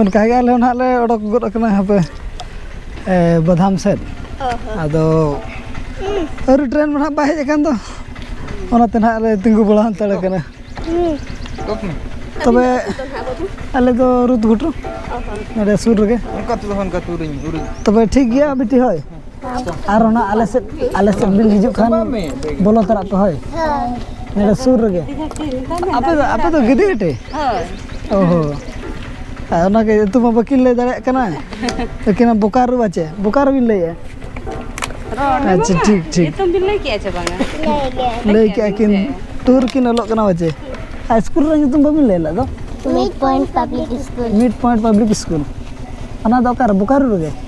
ᱚᱱᱠᱟ ᱜᱮ ᱟᱞᱮ ᱦᱚᱸ ᱱᱟᱦᱟᱜ ᱞᱮ ᱚᱰᱚᱠ ᱜᱚᱫ ᱟᱠᱟᱱᱟ ᱦᱟᱯᱮ ᱵᱟᱫᱷᱟᱢ ᱥᱮᱫ ᱟᱫᱚ ᱟᱹᱣᱨᱤ ᱴᱨᱮᱱ ᱢᱟ ᱱᱟᱦᱟᱜ ᱵᱟᱭ ᱦᱮᱡ ᱟᱠᱟᱱ ᱫᱚ ᱚᱱᱟᱛᱮ ᱱᱟᱦᱟᱜ ᱞᱮ ᱛᱤᱸᱜᱩ ᱵᱟᱲᱟ ᱦᱟᱱᱛᱟᱲ ᱠᱟᱱᱟ ᱛᱚᱵᱮ ᱟᱞᱮ ᱫᱚ ᱨᱩᱫᱽ ᱜᱷᱩᱴᱩ ᱱᱚᱰᱮ ᱥᱩᱨ ᱨᱮᱜᱮ ᱛᱚᱵᱮ ᱴᱷᱤᱠ ᱜᱮᱭᱟ ᱵᱤᱴᱤ ᱦᱳᱭ ᱟᱨ ᱚᱱᱟ ᱟᱞᱮ ᱥᱮᱫ ᱟᱞᱮ ᱥᱮᱫ ᱵᱤᱱ ᱦᱤᱡᱩᱜ ᱠᱷᱟᱱ ᱵᱚᱞᱚ ᱛᱟᱨᱟᱜ ᱯᱮ ᱦᱳᱭ ᱱᱚᱰᱮ ᱥᱩᱨ ᱨᱮᱜᱮ ᱟᱯᱮ ᱫᱚ ᱟᱯᱮ ᱫᱚ ᱜᱤᱫᱤ ᱜᱟᱹᱴᱤ ᱚ ᱦᱚᱸ ᱟᱨ ᱚᱱᱟᱜᱮ ᱧᱩᱛᱩᱢ ᱢᱟ ᱵᱟᱹᱠᱤᱱ ᱞᱟᱹᱭ ᱫᱟᱲᱮᱭᱟᱜ ᱠᱟᱱᱟ ᱟᱹᱠᱤᱱ ᱵᱳᱠᱟᱨᱳ ᱵᱟᱪᱮ ᱵᱳᱠᱟᱨᱳ ᱵᱤᱱ ᱞᱟᱹᱭᱮᱜᱼᱟ ᱟᱪᱪᱷᱟ ᱴᱷᱤᱠ ᱴᱷᱤᱠ ᱧᱩᱛᱩᱢ ᱵᱤᱱ ᱞᱟᱹᱭ ᱠᱮᱜᱼᱟ ᱪᱮ ᱵᱟᱝᱟ ᱞᱟᱹᱭ ᱠᱮᱜᱼᱟ ᱠᱤᱱ ᱴᱩᱨ ᱠᱤᱱ ᱚᱞᱚᱜ ᱠᱟᱱᱟ ᱵᱟᱪᱮ ᱟᱨ ᱥᱠᱩᱞ ᱨᱮ ᱧᱩᱛᱩᱢ ᱵᱟᱹᱵᱤᱱ ᱞᱟᱹᱭ ᱞᱮᱫ ᱫᱚ mid point public school mid point public school ᱚᱱᱟ ᱫᱚ ᱚᱠᱟᱨᱮ ᱵᱳᱠᱟᱨᱳ ᱨᱮᱜᱮ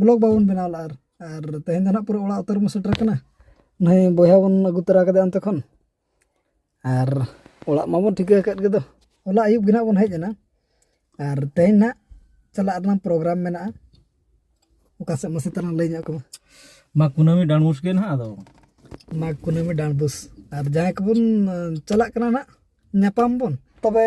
ᱵᱞᱚᱜ ᱵᱟᱵᱚᱱ ᱵᱮᱱᱟᱣ ᱞᱮᱫᱼᱟ ᱟᱨ ᱟᱨ ᱛᱮᱦᱮᱧ ᱫᱚ ᱱᱟᱦᱟᱜ ᱯᱩᱨᱟᱹ ᱚᱲᱟᱜ ᱩᱛᱟᱹᱨ ᱵᱚᱱ ᱥᱮᱴᱮᱨ ᱠᱟᱱᱟ ᱱᱩᱭ ᱵᱚᱭᱦᱟ ᱵᱚᱱ ᱟᱹᱜᱩ ᱛᱚᱨᱟ ᱠᱟᱫᱮᱭᱟ ᱚᱱᱛᱮ ᱠᱷᱚᱱ ᱟᱨ ᱚᱲᱟᱜ ᱢᱟᱵᱚᱱ ᱴᱷᱤᱠᱟᱹ ᱟᱠᱟᱫ ᱜᱮᱫᱚ ᱦᱚᱞᱟ ᱟᱹᱭᱩᱵ ᱜᱮ ᱱᱟᱦᱟᱜ ᱵᱚᱱ ᱦᱮᱡ ᱮᱱᱟ ᱟᱨ ᱛᱮᱦᱮᱧ ᱱᱟᱦᱟᱜ ᱪᱟᱞᱟᱜ ᱨᱮᱱᱟᱜ ᱯᱨᱳᱜᱨᱟᱢ ᱢᱮᱱᱟᱜᱼᱟ ᱚᱠᱟ ᱥᱮᱫ ᱢᱟᱥᱮ ᱛᱟᱞᱟᱝ ᱞᱟᱹᱭ ᱧᱚᱜ ᱠᱚᱢᱟ ᱢᱟᱜᱽ ᱠᱩᱱᱟᱹᱢᱤ ᱰᱟᱸᱰᱵᱩᱥ ᱜᱮ ᱱᱟᱦᱟᱜ ᱟᱫᱚ ᱢᱟᱜᱽ ᱠᱩᱱᱟᱹᱢᱤ ᱰᱟᱸᱰᱵᱩᱥ ᱟᱨ ᱡᱟᱦᱟᱸᱭ ᱠᱚᱵᱚᱱ ᱪᱟᱞᱟᱜ ᱠᱟᱱᱟ ᱱᱟᱦᱟᱜ ᱧᱟᱯᱟᱢ ᱵᱚᱱ ᱛᱚᱵᱮ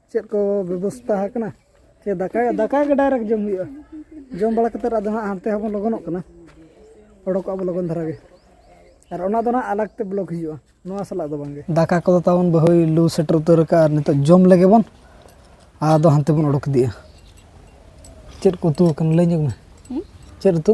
ᱪᱮᱫ ᱠᱚ ᱵᱮᱵᱚᱥᱛᱟ ᱟᱠᱟᱱᱟ ᱥᱮ ᱫᱟᱠᱟ ᱫᱟᱠᱟ ᱜᱮ ᱰᱟᱭᱨᱮᱠᱴ ᱡᱚᱢ ᱦᱩᱭᱩᱜᱼᱟ ᱡᱚᱢ ᱵᱟᱲᱟ ᱠᱟᱛᱮᱫ ᱟᱫᱚ ᱦᱟᱸᱜ ᱦᱟᱱᱛᱮ ᱦᱚᱸᱵᱚᱱ ᱞᱚᱜᱚᱱᱚᱜ ᱠᱟᱱᱟ ᱚᱰᱚᱠᱚᱜ ᱟᱵᱚ ᱞᱚᱜᱚᱱ ᱫᱷᱟᱨᱟ ᱜᱮ ᱟᱨ ᱚᱱᱟ ᱫᱚ ᱦᱟᱸᱜ ᱟᱞᱟᱜᱽ ᱛᱮ ᱵᱞᱚᱠ ᱦᱩᱭᱩᱜᱼᱟ ᱱᱚᱣᱟ ᱥᱟᱞᱟᱜ ᱫᱚ ᱵᱟᱝᱜᱮ ᱫᱟᱠᱟ ᱠᱚᱫᱚ ᱛᱟᱵᱚᱱ ᱵᱟᱹᱦᱩᱭ ᱞᱩ ᱥᱮᱴᱮᱨ ᱩᱛᱟᱹᱨ ᱟᱠᱟᱫᱼᱟ ᱟᱨ ᱱᱤᱛᱚᱜ ᱡᱚᱢ ᱞᱮᱜᱮ ᱵᱚᱱ ᱟᱫᱚ ᱦᱟᱱᱛᱮ ᱵᱚᱱ ᱚᱰᱚᱠ ᱤᱫᱤᱜᱼᱟ ᱪᱮᱫ ᱠᱚ ᱩᱛᱩ ᱟᱠᱟᱱᱟ ᱞᱟᱹᱭ ᱧᱚᱜᱽ ᱢᱮ ᱪᱮᱫ ᱩᱛᱩ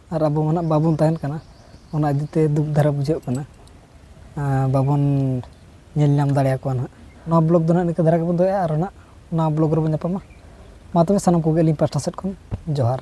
ᱟᱨ ᱟᱵᱚ ᱢᱟ ᱱᱟᱦᱟᱜ ᱵᱟᱵᱚᱱ ᱛᱟᱦᱮᱱ ᱠᱟᱱᱟ ᱚᱱᱟ ᱤᱫᱤ ᱛᱮ ᱫᱩᱠ ᱫᱷᱟᱨᱟ ᱵᱩᱡᱷᱟᱹᱜ ᱠᱟᱱᱟ ᱟᱨ ᱵᱟᱵᱚᱱ ᱧᱮᱞ ᱧᱟᱢ ᱫᱟᱲᱮ ᱟᱠᱚᱣᱟ ᱱᱟᱦᱟᱜ ᱱᱚᱣᱟ ᱵᱞᱚᱜᱽ ᱫᱚ ᱱᱟᱦᱟᱜ ᱱᱤᱝᱠᱟᱹ ᱫᱷᱟᱨᱟ ᱜᱮᱵᱚᱱ ᱫᱚᱦᱚᱭᱟ ᱟᱨᱚ ᱱᱟᱦᱟᱜ ᱱᱚᱣᱟ ᱵᱞᱚᱜᱽ ᱨᱮᱵᱚᱱ ᱧᱟᱯᱟᱢᱟ ᱢᱟ ᱛᱚᱵᱮ ᱥᱟᱱᱟᱢ ᱠᱚᱜᱮ ᱟᱹᱞᱤᱧ ᱯᱟᱥᱴᱟ ᱥᱮᱫ ᱠᱷᱚᱱ ᱡᱚᱦᱟᱨ